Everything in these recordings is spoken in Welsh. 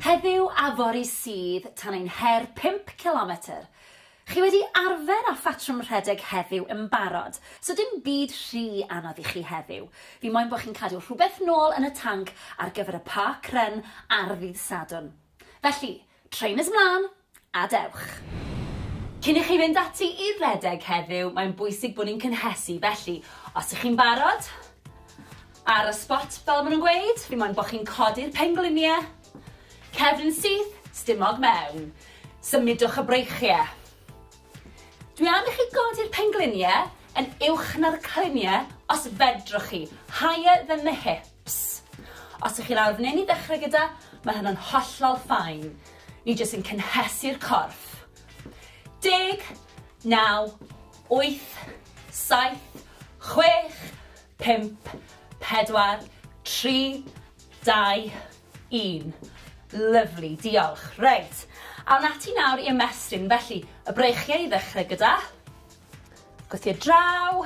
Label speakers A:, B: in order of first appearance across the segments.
A: Heddiw a fory sydd tan ein her pump cilometr. Chi wedi arfer â phatrwm rhedeg heddiw yn barod, so dim byd rhy anodd i chi heddiw. Fi moyn bod chi'n cadw rhywbeth nôl yn y tanc ar gyfer y Park Run ar ddydd Sadwrn. Felly, trainers mlân! a dewch. Cyn i chi fynd ati i redeg heddiw, mae'n bwysig bod ni'n cynhesu, felly, os ych chi'n barod, ar y spot, fel maen nhw'n gweud, fi moyn bod chi'n codi'r pengliniau, cefn yn syth, stumog mewn. Symudwch y breichiau. Dwi am i chi godi'r pengliniau yn uwch na'r cliniau, os fedrwch chi, higher than the hip. Ps. Os ych chi lawr f'nyn i ddechrau gyda, mae hynna'n hollol fine. Ni jyst yn cynhesu'r corff. Deg, naw, wyth, saith, chwech, pump, pedwar, tri, dau, un. Lyfli, diolch. Reit, awn ati nawr i ymestyn. Felly, y breichiau i ddechrau gyda. Gwthio draw.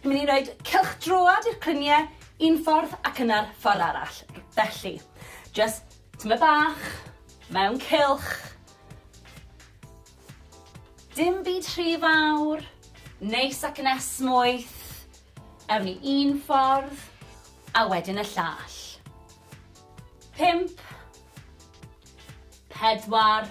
A: Ni'n mynd i roed cylch droad i'r clynie un ffordd ac yna'r ffordd arall. Felly, just tyma bach, mewn cylch. Dim byd rhy fawr, neis ac yn esmwyth. Ewn ni un ffordd, a wedyn y llall. Pimp. Pedwar.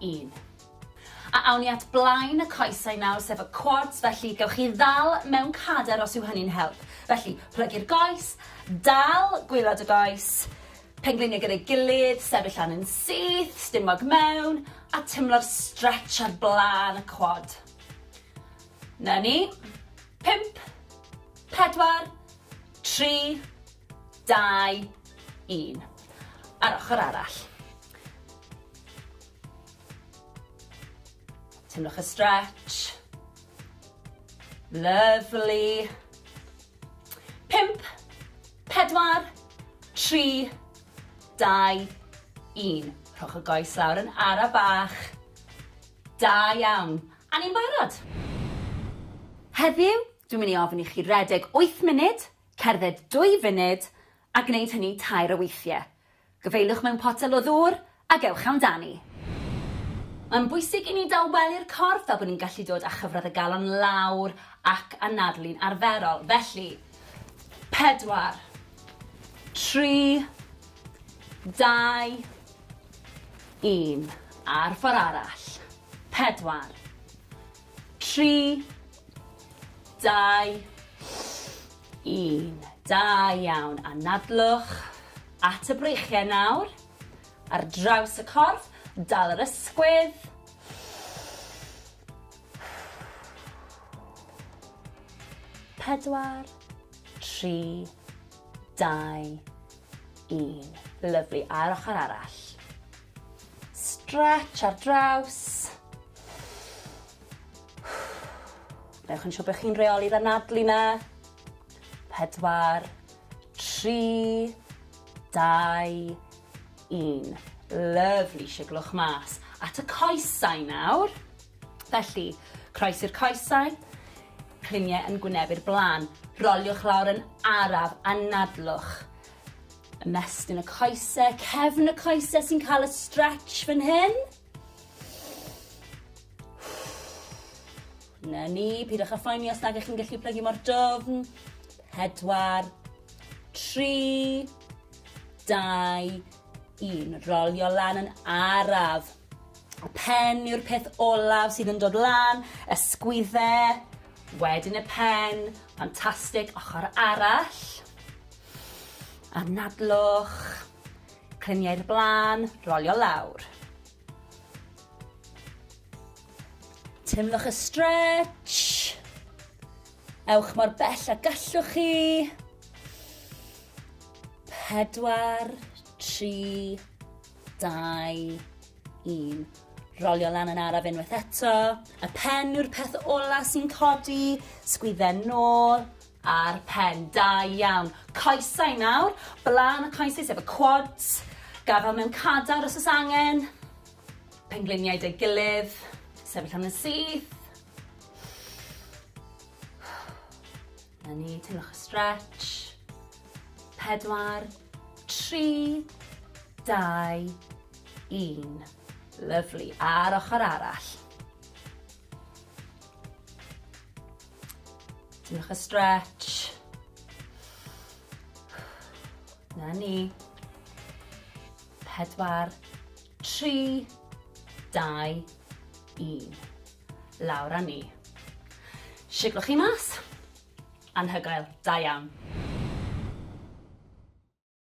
A: un. A awn ni at blaen y coesau nawr, sef y quads, felly gewch chi ddal mewn cader os yw hynny'n help. Felly, plygu'r goes, dal gwylod y goes, pengliniau gyda'i gilydd, sefyll lan yn syth, stumog mewn, a tymlo'r stretch ar blaen y quad. Na ni. 5, 4, 3, 2, 1. Ar ochr arall. Tynnwch y stretch. Lovely. Pimp, pedwar, tri, dau, un. Rhowch y goes lawr yn ara bach. Da iawn. A ni'n barod. Heddiw, dwi'n mynd i ofyn i chi redeg 8 munud, cerdded 2 funud, a gwneud hynny tair o weithiau. Gyfeiliwch mewn potel o ddŵr ac ewch amdani. Mae'n bwysig i ni dawelu'r corff fel bod ni'n gallu dod â chyfradd y galon lawr ac anadlu'n arferol. Felly, pedwar, tri, dau, un. A'r ffordd arall. Pedwar, tri, dau, 1. Da iawn, anadlwch at y breichiau nawr, ar draws y corff, dal yr ysgwydd. Pedwar, tri, dau, un. Lyflu, a'r ochr arall. Stretch ar draws. Newch yn siŵr bod chi'n reoli'r anadlu 'na. Pedwar, tri, dau, un. Lyfli, siglwch mas. At y coesau nawr. Felly, croes i'r coesau, cliniau yn gwynebu'r blaen. Roliwch lawr yn araf, anadlwch. Ymestyn y coesau, cefn y coesau sy'n cael y stretch fan hyn. Na ni, pidwch â phoeni os nag ych chi'n gallu plygu mor dofn. Pedwar, tri, dau, un. Rolio lan yn araf. Y pen yw'r peth olaf sydd yn dod lan, y sgwydde, wedyn y pen, ffantastig, ochr arall. Anadlwch, Clymu i'r blaen, rolio lawr. Teimlwch y stretch. Ewch mor bell a gallwch chi. Pedwar, tri, dau, un. Rolio lan yn araf unwaith eto. Y pen yw'r peth ola sy'n codi. Sgwydden nôl. Ar pen, da iawn. Coesau nawr, blaen y coesau sef y quads, gafal mewn cadar os oes angen, pengliniau deg gilydd, sefyll am yn syth. Na ni, teimlwch y stretch. Pedwar, tri, dau, un. Lyflu, a'r ochr arall. Diolch y stretch. Na ni. Pedwar, tri, dau, un. Lawr a ni. Siglwch chi mas. Anhygoel, da iawn.